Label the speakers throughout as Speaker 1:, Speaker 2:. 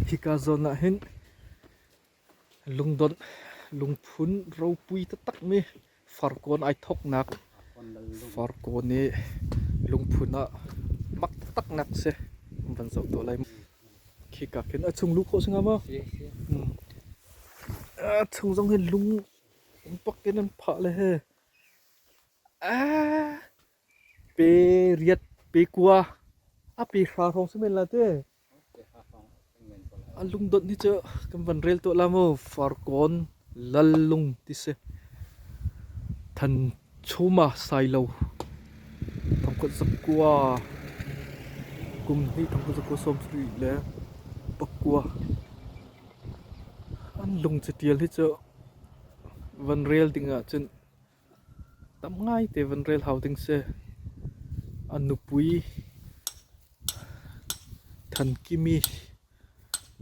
Speaker 1: Hika zawn ah hin lungdonh, lungphun ropui taktakmi farkawn ai thawknak farkawn i lungphun ah mak taktaknak si an van zoh tawn lai. Khika khin a chung luh khawh si hnga maw? A chung zong hin lung umpak in an phah le he. Pe riat, pe kua, a pe hra hrawng si men la te. A lungdot ni cu kan van rel tuah la maw farkawn lallung ti si. Than chuma sailo. Thongkhat zakua. Kum ni thongkhat zakua som sri le pakua. An lung cu tial hi cu van rel ding ah cun Tam ngaite van rel hau ding si. A nupui Than Kimi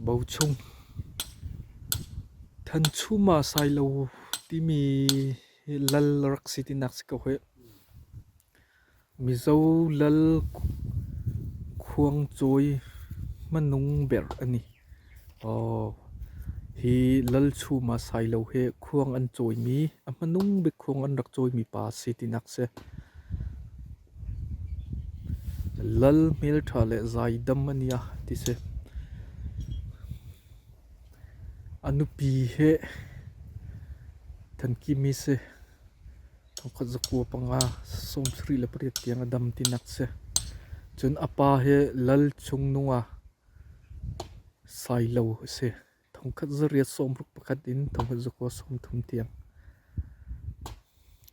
Speaker 1: Bo Chung. Than Chum ah Sailo timi hi lal a rak si tinak si ko hih. Mizo lal khuangcawi hmanung ber an i. Hi lal chum ah Sailo he khuang an cawimi, a hmanung bik khuang an rak cawimi pa a si tinak si. Lal hmelṭha le zaidam an i a ti si. A nupi he than kim i si. Thokhat zakua panga sawmsarih le pariat tiang a dam tinak si. Cun a pa hi lal chungnunga sailo a si. Thongkhat zariat sawmruk pakhat in thongkhat zakua sawmthum tiang.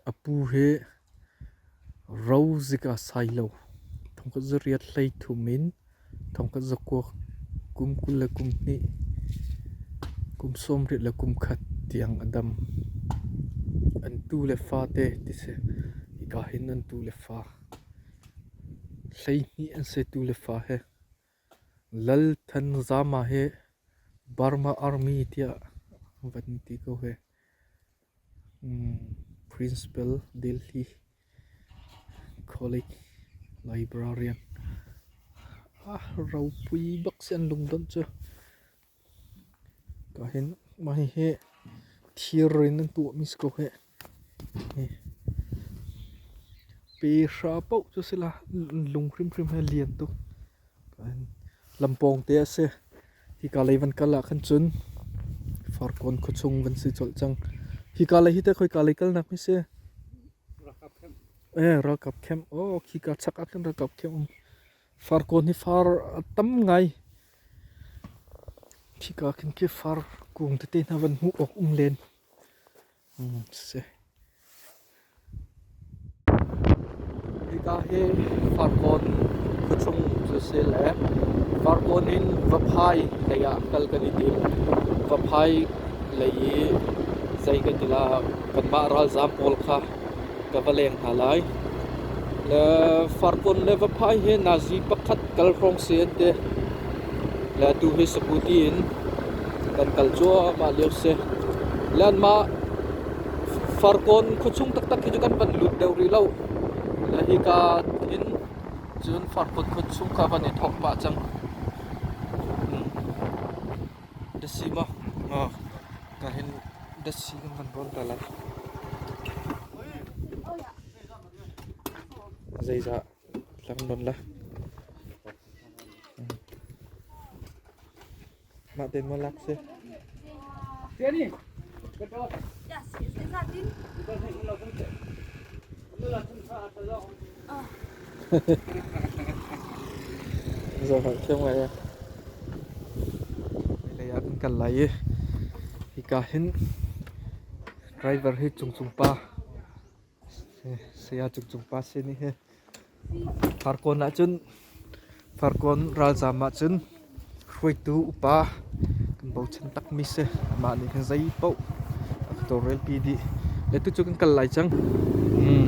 Speaker 1: A pu hi ro zika sailo. Thongkhat zariat hlei thum in Thongkhat zakuak, kum kul le kum hnih, kum sawmriat le kum khat tiang a dam. An tu le fate ti si. Hika hin an tu le fa. Hleihnih an si tu le fa he. Lal Than Zama he Burma Army tiah van ti ko he. Principal Delhi College Librarian a ropui bak si an lungdonh cu kahin mah hihi thir in an tuahmi si ko hih. Pe hra poh cu si la, an lung hrimhrim hi a lian tuk. Lam pawngte a si. Hika lei van kal ahkhan cun Farkawn khuachung van si colh cang. Hika lei hi te khoi ka lei kalnak hi si. Eh, ralkap camp. Oh, khika chak ahkhan ralkap camp um. Farkawn hi far a tam ngai. Khika ahkhan ke far kung tete hna van hmuh awk um len. Hika hi Farkawn khuachung cu a si le Farkawn in Vaphai lei ah kal kan i tim. Vaphai lei i zei kan ti lah kanmah ralzaam pawl kha ka va leng hna lai. Le Farkawn le Vaphai hi Nazi pakhat kal hrawng si an ti. Le atu hi sakuti in kan kal cuahmah lio a si. Le an mah Farkawn khuachung taktak hi cu kan van lut deuh rih lo. Le hika hin cun Farkawn khuachung kha van i thawk pah cang. Hmm. Dasi maw? O, ka hin dasi kan van vawn ta lai. Zeizah Mah tein maw lak si? Zo har thiam ngai ya. Lei ah kan kal lai i hika hin driver hi chung chung pa Saya Cung Cung Pa sin i hi Farkawn ahcun Farkawn ralzaam ahcun hruaitu upa kan bochan takmi si. Amah nih khin zei paoh a ka tawlrelpi dih. Le tu cu kan kal lai cang. Hmm.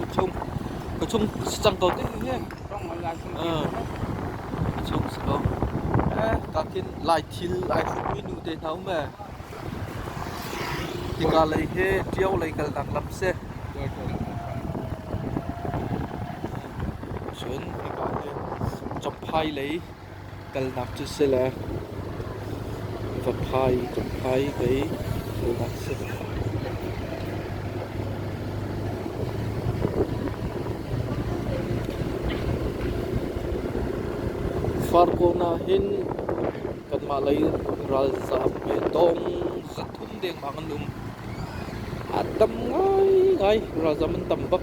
Speaker 1: ka chung ka chung si cang ko te ne ka chung si ko ka kin lai thil ai hrut mi nu te hna um e tika lei he ṭio lei kal nak lam se cun nika he chomphai lei Kalnak cu sile va phai kan phai vei kalnak si lo. Far kawn ahhin kanmah lei ralzaam ve dong zat um dengmang an um. A tam ngaingai. Ralzam an tam bak.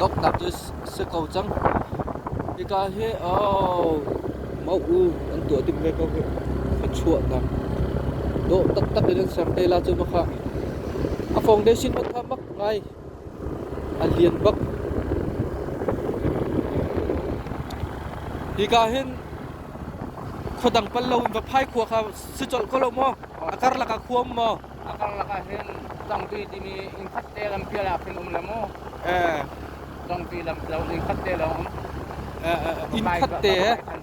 Speaker 1: donghnak cu si ko cang. Hika hi oh mau u an tuah ding ve ko hi. Thluachuahnak dawh taktak in an ser te la cu makhah. A foundation ma kha mak ngai A lian bak. Hika hin khua dang pal loin va phai khua kha si colh ko lo maw? A karlak ah khua um maw? A karlak ah hin zangtui timi innkhat te lampial ah khin um le mu. Eh. Zangtui lam lo innkhat te lawng um. Eh, eh, innkhat te he?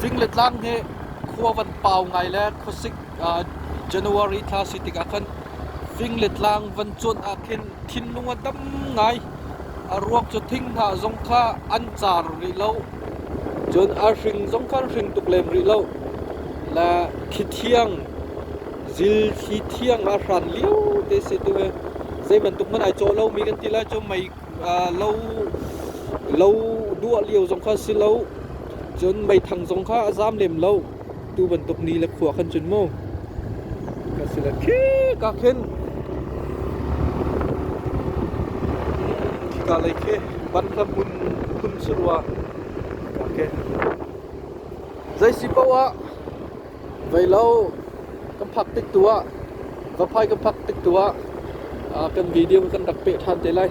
Speaker 1: Fing le tlang hi khua van pau ngai le khuasik January thla si tikah khan fing le tlang van cuanh ah khin thinlung a dam ngai. A ruak cu thinghnah zong kha an car rih lo. Cun a hring zong kha an hring tuk lem rih lo. Le thi thiang, zil thi thiang a hran lio te si tu hi zei bantuk hmanh ai cawh lomi kan ti lai cu mei lo duah lio zong kha si lo cun meithang zong kha a zaam lem lo tu bantuk ni le khua khan cun mu ka si le khi ka khin ka lei khi ban hla mun hun surwa ka ke zei si poah Vei lo, kan phak tik tu ah, Vaphai kan phak tik tu ah, kan video kan rak peh ṭhan te lai.